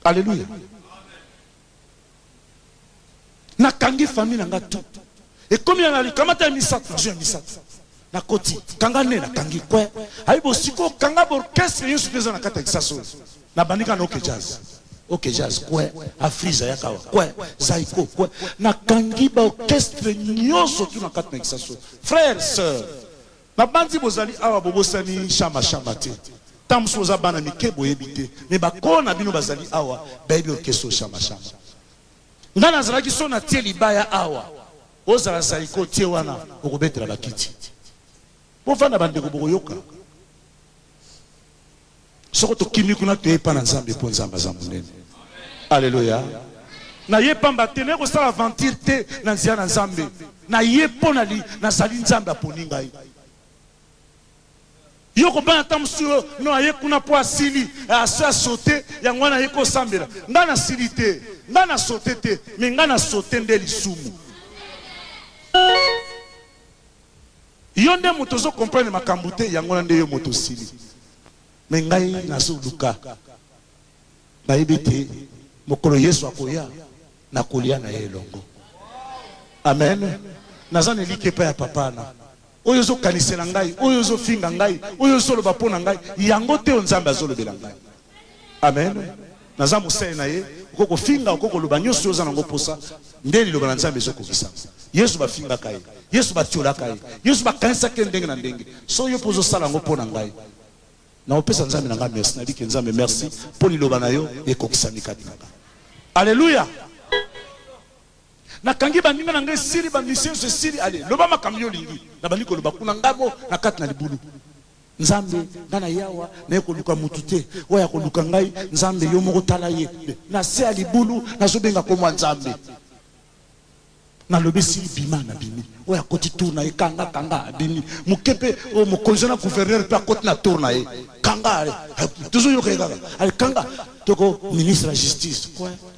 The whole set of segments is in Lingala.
Alleluia. Nakangi famille na nga tout. Ekomi na likamata ya misato, nazwi ya misato. Nakoti, kanga ne nakangi kwe. Ayi bosiko kanga orchestre nyonso eza na kati ya kisasa oyo. Nabandi kaka na OK Jazz. OK Jazz kwe, Afriza ya kawa kwe, Zaiko kwe. Nakangi ba orchestre nyonso tout na kati na kisasa oyo. Frère, sœur, Na banzi bozali awa bobosani shama shama te tango mosusu boza bana mike boyebi te mais ba kolo na bino bazali awa bayebi orchestre shama shama ngai nazalaki so na tie libaya awa ozala zaiko tie wana okobetela bakiti bovanda bandeko bokoyoka Soko tokimi kuna, toye epai na Nzambe, mpo Nzambe aza monene. Aleluya! Naye mpamba te, naye kosala aventure te na nzela na Nzambe. Naye mpo nali, nazali Nzambe aponi ngai. Yo kobanga ntango mosusu yo, no, aye kuna mpo asili, asi asote, yango wana aye kosambela. Ngai nasili te, ngai nasote te, mais ngai nasote nde lisumu. Yo nde moto ozo comprendre makambu te yango wana nde yo moto osili mais ngai nazo luka nayebi te mokolo yesu akoya nakolia naye elongo amen naza na eliki epai ya papa na oyo ozo kanisela ngai oyo ozo finga ngai oyo ozo loba pona ngai yango te oyo nzambe azo lobela ngai Amen naza mosali na ye okoki kofinga okoki koloba nyonso oyo oza nango mposa nde liloba na nzambe ezokokisama yesu bafingaka ye yesu batiolaka ye yesu bakanisaki ye ndenge na ndenge so yo mpo ozosala yango mpo na ngai naopesa nzambe na ngai merci nalike nzambe merci mpo liloba na yo ekokisami kati na ngai aleluya nakangi baninga na ngai esili bamisio nyonso esili ale loba makambo yo olingi nabandi koloba kuna ngai mo na kati na libulu Nzambe nga na ye awa naye koluka mutu te oyo akoluka ngai nzambe yo moko tala ye na se ya libulu nazo benga kombo ya nzambe na lobi si bima na bimi oyo akoti tour na ye kanga kanga abimi moke pe oyo mokonzi na gouverneur pe akoti na tour na ye kanga tozo yoka ye kaka ale kanga toko ministre ya justice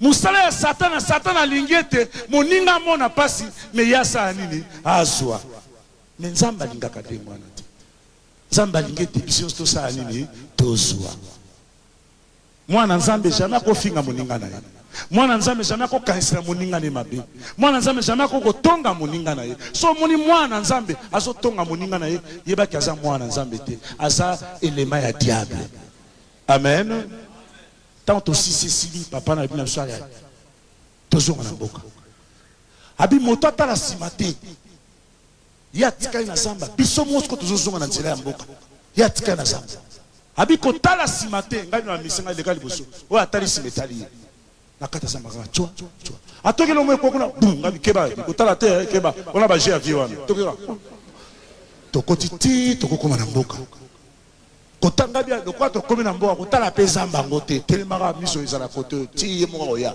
Mosala ya satana, satana alingi ete moninga amona pasi mais ye asala nini? Azua. Mais Nzambe alingaka ndenge wana te. Nzambe alingi ete biso nionso tosala nini? Tozua. Mwana Nzambe jamais akofinga moninga na ye. Mwana Nzambe jamais akokanisela moninga na ye mabe. Mwana Nzambe jamais akoki kotonga moninga na ye. So omoni mwana Nzambe azotonga moninga na ye, yeba ke aza mwana Nzambe te, aza elema ya diable. Amen. Tango tosisi esili papa na bino biso aya tozonga na mboka abi moto atala nsima te ye atikali na zamba biso mosiko tozozonga na nzela ya mboka ye atikali na zamba abi kotala nsima te ngai no amisi ngai leka liboso oyo atali nsima etali ye na kati ya zamba kaka cwa cwa atoki elongo ekwa kuna bu ngai bikeba kotala te eh, keba wana baje ya vie wana toki kaka tokoti ti tokokoma na mboka Kotanga bien lokola tokomi na mboka kotala mpe zamba yango te telemaka miso ezala kote oyo ti ye moko akoya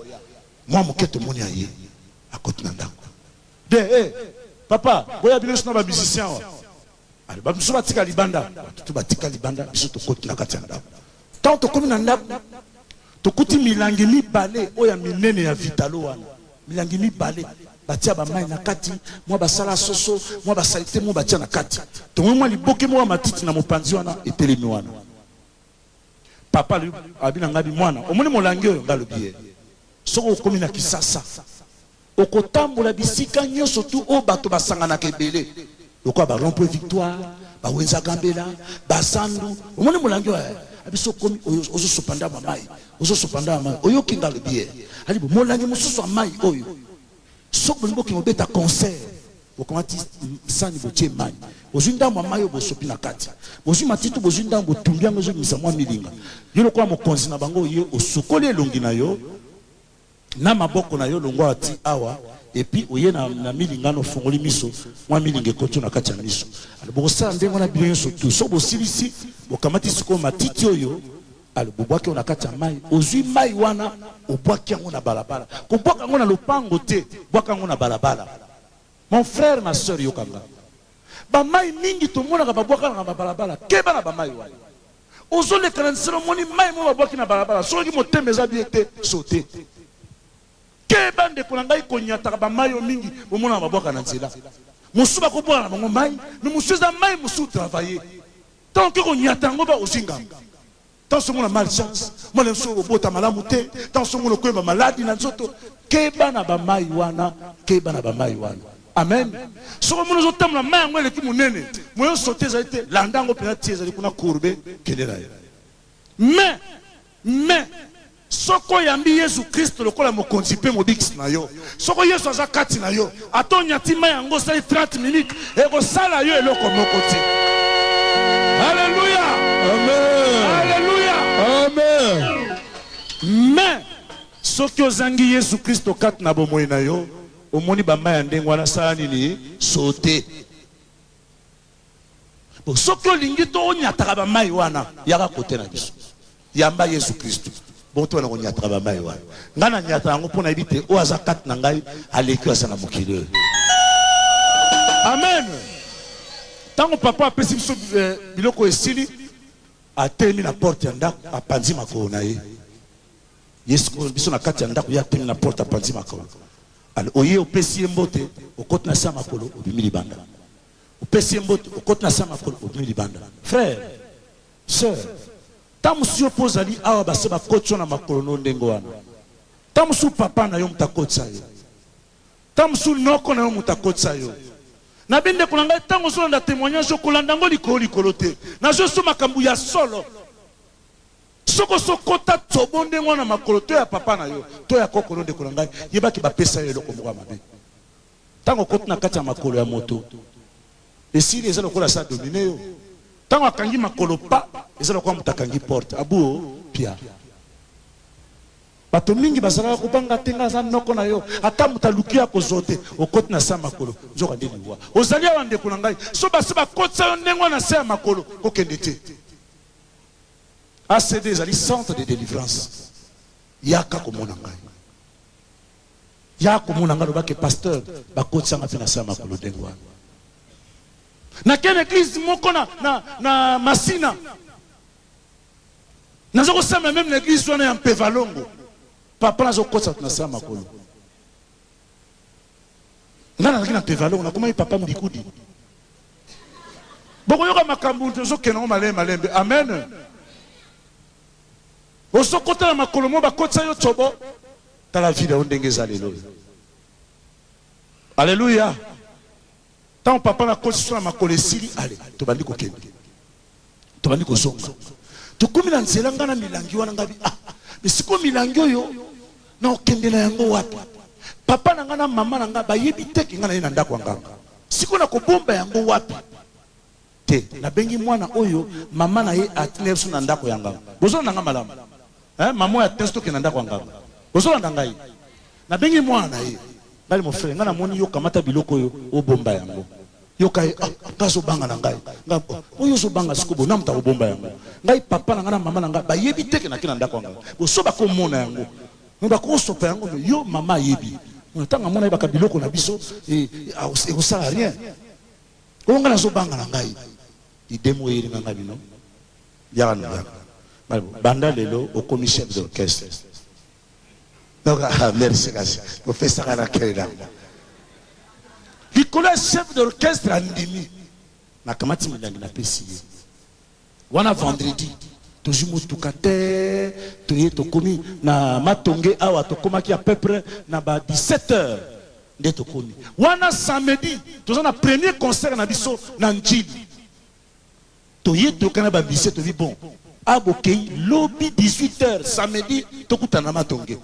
mwa moke tomoni ya ye akoti na ndako de e eh, papa boya bino sina bamusicien wa ale bamosusu batika libanda batutu batika libanda biso tokoti na kati ya ndako ntango tokomi na ndako tokuti milangi mibale oyo ya minene ya vitalo wana Milangi mibale, batia ba mayi na kati, mua ba sala soso, mua ba salite mua batia na kati. Tomoni mua liboke moko ya matiti na mopanzi wana etelemi wana. Papa alobi, alobi na ngabi, muana, omoni molangi oyo? Nga alobi ye, soki okomi na Kisasa, okotambola bisika nionso tout oyo bato basanganaka ebele. Lokola ba rond-point Victoire, ba Wenza Gambela, ba Sandu, omoni molangi oyo eh? Abi soki okomi oyo ozosopa ndambo ya mai, ozosopa ndambo ya mai, oyoki nga alobi ye. Abi bo molangi mosusu ya mai oyo, soki bolingi bokende kobeta concert, bokamati sani botie mai, bozwi ndambo ya mai oyo bosopi na kati, bozwi matiti bozwi ndambo botumbi yango ezobimisa mwa milinga. Yo lokola mokonzi na bango oye osukoli elongi na yo, na maboko na yo longwa awa ti awa epuis oye na, na milinga no fongoli miso mwa milinga ekoti na kati ya miso alo bokosala ndenge wana bino nyonso tu so bosilisi bokamati sikoyo matiti oyo alo bobwaki yango na kati ya mai ozwi mai wana obwaki yango na balabala kobwaka yango na lopango te bwaka yango na balabala mon frère ma soeur yokanga bamai mingi tomonaka babwakanaka na balabala keba na bamai wana Ozo leka na nzela omoni mayi moko babwaki na balabala soki motema eza bien te saute. Keba ndeko na ngai konyataka ba mayi oyo mingi bomonaka babwaka na nzela. Mosusu bako bwaka na bango mayi mais mosusu eza mayi mosusu travailler. Tango oke konyata yango ba ozui ngambo. Tango osi omona malchance, mwana mosusu oyo obota malamu te, tango osi omona okomi ba maladi na nzoto keba na ba mayi wana, keba na ba mayi wana. Amen soki omoni ozo tambola mayi yango eleki munene moyen sauter ezali te landa yango pena ti ezali kuna courbe kende nayo mais mais soki oyambi yesu kristo lokola mokonzi mpe mobikisi na yo soki yesu aza kati na yo ata onyati mai yango osali 30 minute ekosala yo eloko moko te aleluya aleluya mais soki ozangi yesu kristo kati na bomoi na yo Omoni ba mbaya ndenge wana sala nini sauter po soki olingi to onyataka ba mayi wana yaka kote na biso yamba Yesu Kristu bongo to na konyataka ba mayi wana ngai na nyata yango mpo nayebi te oyo aza kati na ngai aleki aza na mokili oyo amen ntango papa apesi biso eh, biloko esili atelemi na porte ya ndako apanzi makolo na ye Ye sikoyo biso na kati ya ndako ye atondi na porte apanzi makolo. Alo oye opesi ye mbote okoti na se ya makolo obimi libanda. Opesi ye mbote okoti na se ya makolo obimi libanda. Frère, sœur, ntango mosusu yo mpe ozali awa base bakoti yo na makolo na yo ndenge wana. Ntango mosusu papa na yo moto akotisa yo. Ntango mosusu noko na yo moto akotisa yo. Nabi ndeko na ngai ntango ozolanda temoignage okolanda yango likolo likolo te. Nazwi yo makambo ya solo. Soki osi okota tsobo ndenge wana na makolo to ya papa na yo to ya koko na yo, ndeko na ngai, yeba ke bapesa yo eloko moko ya mabe. Tango okoti na kati ya makolo ya moto, esili eza lokola asi adomine yo. Tango akangi makolo pa, eza lokola moto akangi porte, abu o pia. Bato mingi bazalaka kobanga te, ngai naza noko na yo, ata moto aluki yo akozwa yo te, okoti na se ya makolo, nzoka nde liwa. Ozali awa ndeko na ngai, soki basi bakotisa yo ndenge wana na se ya makolo, kokende te. ACD ezali centre de delivrance. Yaka komona ngai. Yaka komona ngai loba ke pasteur bakotisa ngai mpe na sama kolo ndenge wana. Nakende église moko na, na, na Masina. Nazo kosambela meme na église wana ya Mpevalongo. Papa nazo kotisa na sama kolo. Nga nazalaki na Pevalon, nakomaki Papa Mbikudi. Bokoyoka makambu tozokende yango malembe malembe. Amen. Ozokota na makolo mo bakotisa yo cobo. Tala vida yo ndenge eza lelo. Aleluya. Tango papa na koti sona makolo esili ale tobandi kokende tobandi kozonga tokomi na nzela nga na milangi wana nga bi ah mais sikoyo milangi oyo na okende na yango wapi papa na nga na mama na nga bayebi te ke nga na ye na ndako ya nganga sikoyo na kobomba yango wapi Te na bengi mwana oyo maman na ye atnde biso na ndako ya nganga bozolanda nga malamu hein maman oyo atnde biso tokende na ndako ya nganga bozolanda ngai na bengi mwana na ye ngai mon frère ngai namoni yo kamata biloko oyo obomba yango yoka ye ah ngai azobanga na ngai ngai oh, oyo ozobanga sikoyo bonamu ta kobomba yango ngai papa na ngai na mama na ngai bayebi te ke nake na ndako ya nganga boso bakomona yango me bakosopa yango me yo mama ayebi ntango amona yebaka biloko na biso eh, eh, ekosala rien Oyo nga nazo banga na ngai idee moko eyelinga nga bino yaka na yaka banda lelo okomi chef d'orchestre donc ah, merci kasi opesaka na kele nango likolo ya chef d'orchestre andimi nakamati milangi napesi ye Wana vendredi tozui mutuka te toye tokomi na matonge awa tokomaki a peu près na ba 17 heures nde tokomi wana samedi toza na premier concert na biso na ndjili toye toyoka na ba musicien tobi bon a bokei lobi 18 heures samedi tokutana na matonge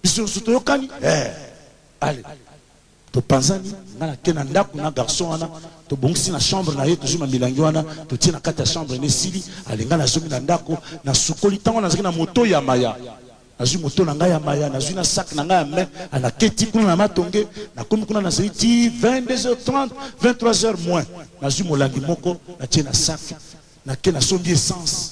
biso nyonso toyokani eh. ale Topanzani, nga na ke na ndaku na garçon wana, tobongisi na chambre na ye, tozui ma milangi wana totie na kati ya chambre na ye, esili ale nga na zongi na ndaku, na sukoli, tango wana nazalaki na moto ya maya, nazui moto na nga ya maya, nazui na sac na nga ya main, a na keti kuna na matonge, na komi kuna na zeli ti 22 heures 30, 23 heures moins, nazui molangi moko na tie na sac, na ke na sombi essence.